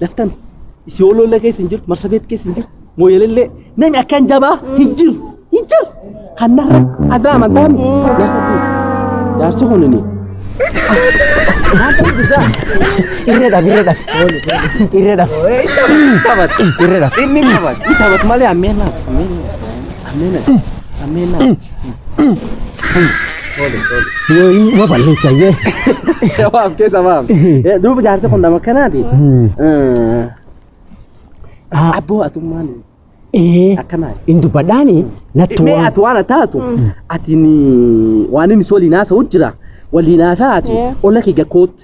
Laftan isii oloolla keessa hin jirtu, marsabeet keessa hin jirtu, mooyelellee namni akkaan jabaa hin jiru, hin jiru. Kan narra addaa amantaa mi? Narra dhiisa. Jaarsi kun inni. Irree dhaaf, irree dhaaf. Irree dhaaf. Irree dhaaf. Inni ni taphata. Ni taphata malee ammeen laata? Ammeen laata? Ameen. Ameen. Yoo inni ma balleessa jee. Waaf keessa waaf. Duuba jaarsa kun nama akkanaati. Abboo atummaan Ee akkanaa. hin dubbadhaani natti Mee waan. ati waan taatu ati waan inni si waliin haasa'u jira waliin haasa'aati olla kee gakkootti.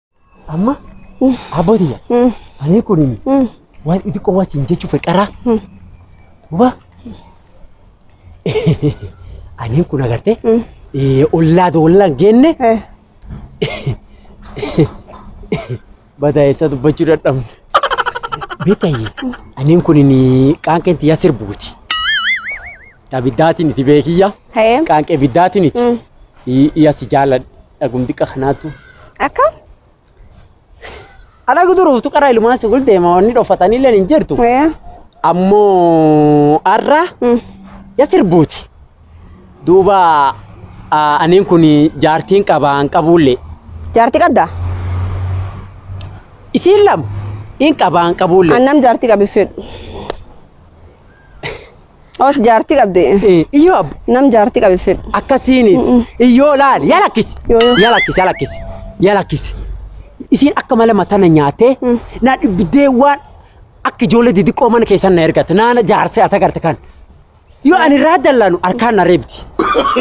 Amma abbootiya ani kun waan xixiqqoo waan siin jechuu fedharaa. Duuba ani kun agartee ollaa doollaan geenne badaa'eessa dubbachuu dadhabne. Beekayye ani kun qaanqeen tiyyaa sirbuuti. Abiddaatiin itti beekiyya. Hee. Qaanqee abiddaatiin itti. Iyya si jaaladha. Dhagum xiqqa kanaatu. Akka? Ana guduruuf tuqara ilmaan si gul deema wanni dhoffatanii illee hin jirtu. Ee. Ammoo har'a Mm. ya sirbuuti. Duuba ah, aniin kun jaartiin qabaan qabuullee. Jaartii qabdaa? Isiin lama in qabaan qabuullee. Annam jaartii qabi fedhu. Oot jaartii qabde. Eh, Iyyoo abbo. Nam jaartii qabe fedhu. Akkasiini. Iyyoo laali. Yaa lakkisi. Yoo, yoo. Yaa lakkisi. Yaa lakkisi. Yaa lakkisi. Isiin akka mala matana nyaatee naa dhibdee waan akka ijoollee didiqqoo mana keessan na ergate naana jaarsee ata garte kan. Yoo ani irraa dallaanu harkaan na reebdi.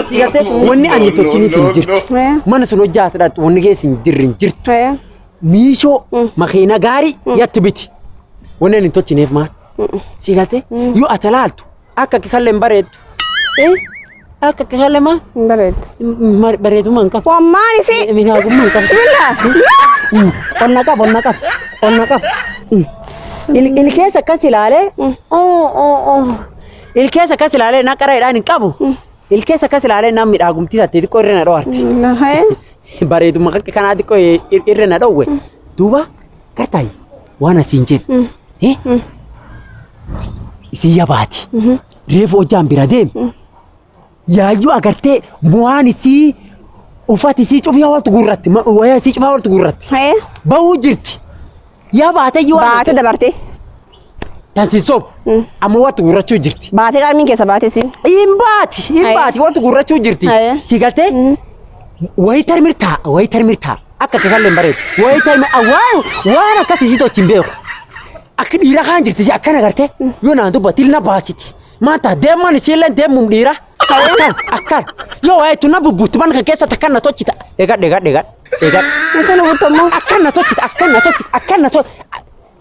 Si gartee wanni ani tolchiniif hin jirtu. Eh. Mana sun hojjaate dhaqxu wanni keessa hin jirre hin jirtu. Eh. Miishoo makiina gaarii yatti biti. Wanni ani hin tolchineef maal? Si galte yoo ati laaltu akka akka kallee hin bareeddu. Eh, Akka akka kallee maa Hin bareeddu. ma- bareedummaa hin qabu. Wammaan isii. Miidhagummaa hin qabu. Bismillah. Onna qaba onna qaba onna qaba. Il- Ilkeessa akkas ilaalee. oo, oo, oo. Ilkeessa akkas ilaalee na qaraadhaan hin qabu. Ilkeessa akkas ilaalee na miidhagumtii tattee xiqqoo irra na dho'arti. Bismillah. Bareedummaa akka kanaa xiqqoo irra na dhoowwe. Duuba Gartaay waan asiin jedhu. Eh? Isin yabaati. Reefu hojjaan bira deem. Yaayyuu agartee bu'aan isii uffati isii cufyaa waltu gurratti ma- wayaa isii cufaa waltu gurratti. Hee? Ba'uu jirti. Yabaate iyyuu waan Baate dabarte. Kan si sobu. Amma wanti gurrachuu jirti. Baatee qarmiin keessa baatee siin. Hin baati. Hin Aye. baati. Wanti gurrachuu jirti. Aye. Si galtee. Wayii tarmir taa. Wayii tarmir taa. Akka si kallee hin bareedu. Wayii tarmir waan waan akkasii si tochi hin beeku. Akka dhiira kaan jirti si akkana gartee. Yoo naan dubbatti ilna baasiti. Maanta deeman isiillee deemuun dhiira. Akkan akkan. Yoo waayee tunna bubbuutti mana kan keessatti akkan na tochita. Eegadha eegadha eegadha. Eegadha. Isa nu buttammoo. Akkan na tochita akkan na tochita akkan na tochita.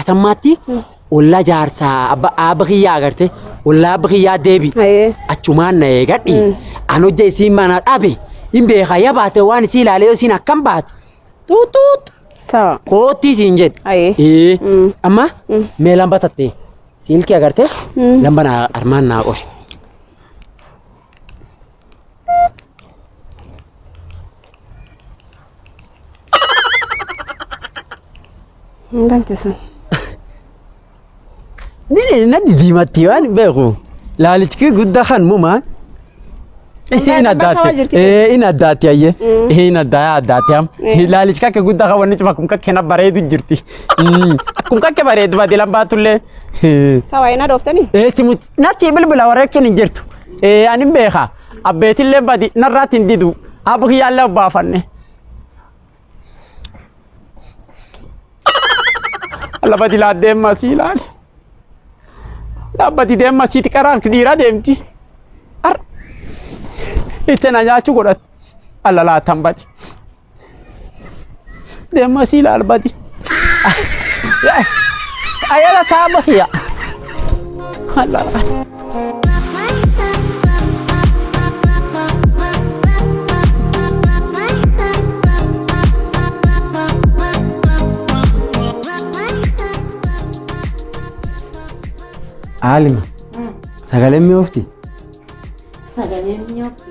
atammaatti ollaa jaarsaa abba aabba kiyyaa agarte ollaa abba kiyyaa deebi Ayee. achumaan na eegadhi an hojja isiin mana dhabe hin beeka ya baate waan isii ilaalee yoo isiin akkam baate xuuxuux Sawa. koottii isiin jedhe Ayee. Ee, Mm. amma mee lamba tattee siilkii agarte lamba naa armaan naa qori Hin dandeessu. Nini nadi diimatti waan beeku. Laalichi kee guddaa kan mumaa. Hin bakka addaatti. waa jirti. Eh, Hin addaatti ayyee. Hin addaa addaatti am. Laalichi kakke guddaa kan wanni cima kun kakke na bareedu jirti. Mm, Kun kakke bareedu baate lambaa tullee. Sawaa hin adooftanii? Eh, simutti. Natti bilbila warra keen hin jirtu. Ee anin beeka abbeetillee badi narraatti hin didu abba kiyyaallee obbaafanne. Lafa dilaa deemma sii laali. Dhaabbati deemma sii xiqqaraa dhiiraa deemti. Ar itti na nyaachuu godhatti. Alla laatan badi. Deemaa sii laal badi. Ayala saaba siya. Allah. Aalima. Sagaleen mi'oofti. Sagaleen mi'oofti.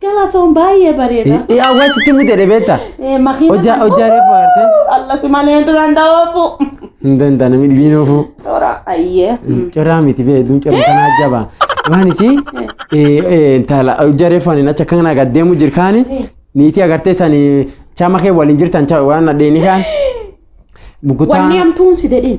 Galatoon baay'ee bareeda. Yaa waan sitti mute dhebeetta. Eh, makiina Hojjaa kan- hojjaa reefu agartee. Allah si malee hin danda'oofu. Hin danda'a namni dhibiin oofuu. Toora ayyee. Coraa miti bee duun coraa kanaa jabaa. Waan isii intala hojjaa reefu ani achi akka kanaa gad deemu jirkaani niitii agartee sani chaama kee waliin jirtan chaa- waan nadheeni kaan. Mukutaa. Wanni hamtuun si dedhin.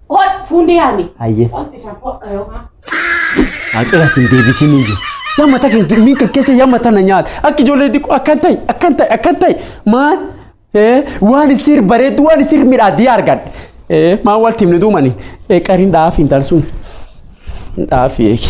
Ol fuundee yaami. Hayyee. Wanti isaan hodha yookaan. Haqira sin deebisin iyyuu. Yamma ta kan durmiin kan keessa yamma tana nyaata. Akka ijoollee xiqqoo akkan ta'e akkan ta'e akkan ta'e maal ee, waan isir bareedu waan isir midhaadii argadhe. Ee, Maa wal timne duumani qariin dhaaf hin talsuun. Dhaaf eegi.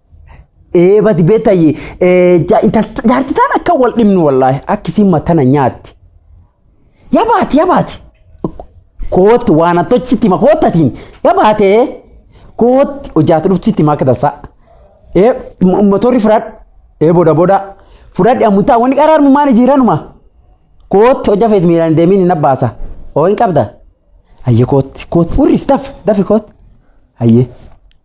Ee badi beetayi jaarti taan akka wal dhimnu wallaahi akkisiin matana nyaatti. Yaa baati yaa baati. Kootti waan attochi sitti hima koottatiin yaa baatee kootti hojaatu dhufti sitti hima akka tasaa. Ee motorri fudhadhu ee boda boda fudhadhu ammutaa wanni qaraarmu maali jiiranuma. Kootti hojja feet miiraan deemiin hin abbaasa. Oo hin qabda. Ayyee kootti kootti urris daf dafi kootti. Ayyee.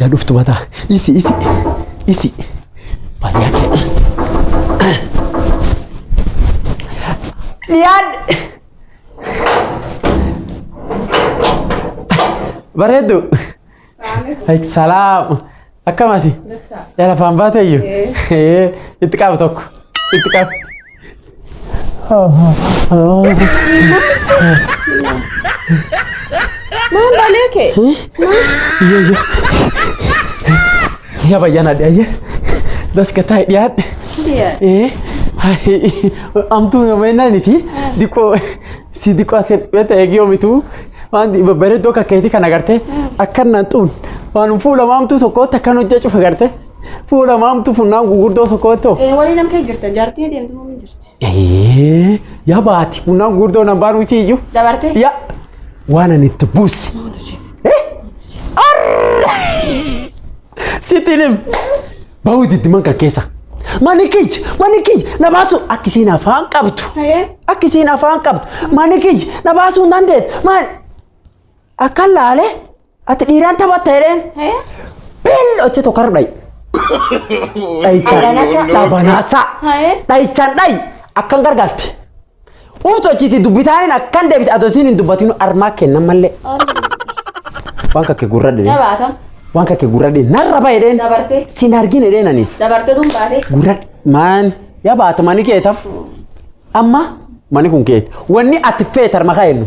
Yaa dhuftu mataa. Isi isi isi. Baay'ee akka. Dhiyaan. Bareedu. Ay, Salaam. Akkamati? Yala faan baatayyu? Ee, Itti qabu tokko. Itti qabu. Maan balee kee? Ya bayyaan adde ayye. Das ka taa'e dhiyaadhe. Ee, ay, amtuu nama ennaa niti. Diqoo Si diqaa si beeta eegii omitu waan babbareeddoo akka keetii kana gartee akkan nan xuun waan fuula maamtuu tokkootti akkan hojjaa cufa gartee fuula maamtuu funnaan gurguddoo tokkootti hoo. Walii nam kee jirta jaartii deemtu moo hin jirti? Ee yaa baati funnaan gurguddoo nan baanuu si iyyuu. Dabartee? Yaa waan ani itti buusi. Sitti hin him. Bahuu itti man kan keessa. Mani kiyya mani kiyya na baasuu akka isiin afaan qabdu. Akka isiin afaan qabdu. Mani kiyya na baasuu hin dandeettu. Maal? Akka laale ati dhiiraan taphatta jedheen. Bill hojii tokko har'a dhayi. Dhayichaan Dhabanaasaa. dhabanaasaa. Dhayichaan dhayi akkan gargaalte. Uutu achiiti dubbitaaniin akkan deebite adoo isiin hin dubbatinu armaa kennan mallee. Waan kakkee gurra dhidhee. Dabaata. Waan kakkee gurra dhidhee narra bahe dheen. Dabarte. Siin argine dheen ani. Dabarte tun baate. Gurra maan yaa baata mani keetam. Amma mani kun keeti. Wanni ati feetar maqaa eenyu.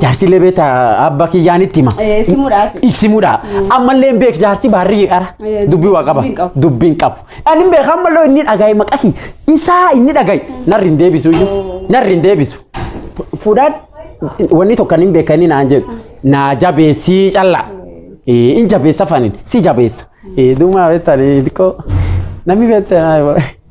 Jaarsi illee beekta abba kiyyaan itti hima. Eh, simuudhaaf. Iksimuudha. Ammallee hin beek jaarsi baarri qara. Eh, Dubbii waa qaba. dubbiin qabu. Dubbiin qabu. Ani hin beeku ammallee inni dhagaye maqahi. Isaa inni dhagaye. Narri hin deebisu iyyuu. Narri hin deebisu. Fu- Fuudhaan wanni tokko hin beekanii naan jedhu. Naa jabeessii callaa. Eh, In jabeessa fanin. Si jabeessa. Eh, Duumaa beektanii xiqqoo. Namni beektaa.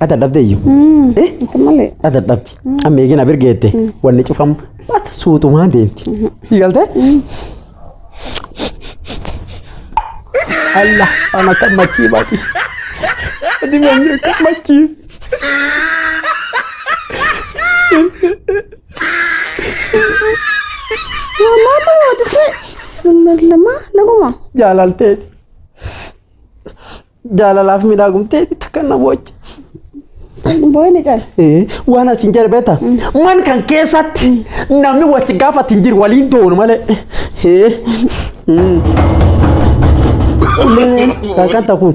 Ata dhabde iyyu. Eh? Akka malee. Ata dhabde. Amma eegin abir geette. Wanni cufamu bas suutumaan deemti. Galte? Allah ana kan machii baati. Adi manni kan machii. Mama mama dise. Summa lama laguma. Jaalalteeti. Jaalalaaf miidhagumtee takka na boocha. Booyni cala. Eh, Waan asiin jedhe beektaa? Man kan keessatti namni wal si gaafatu hin jiru waliin doonu malee. Eh, mm. Kan kan ta'u kun.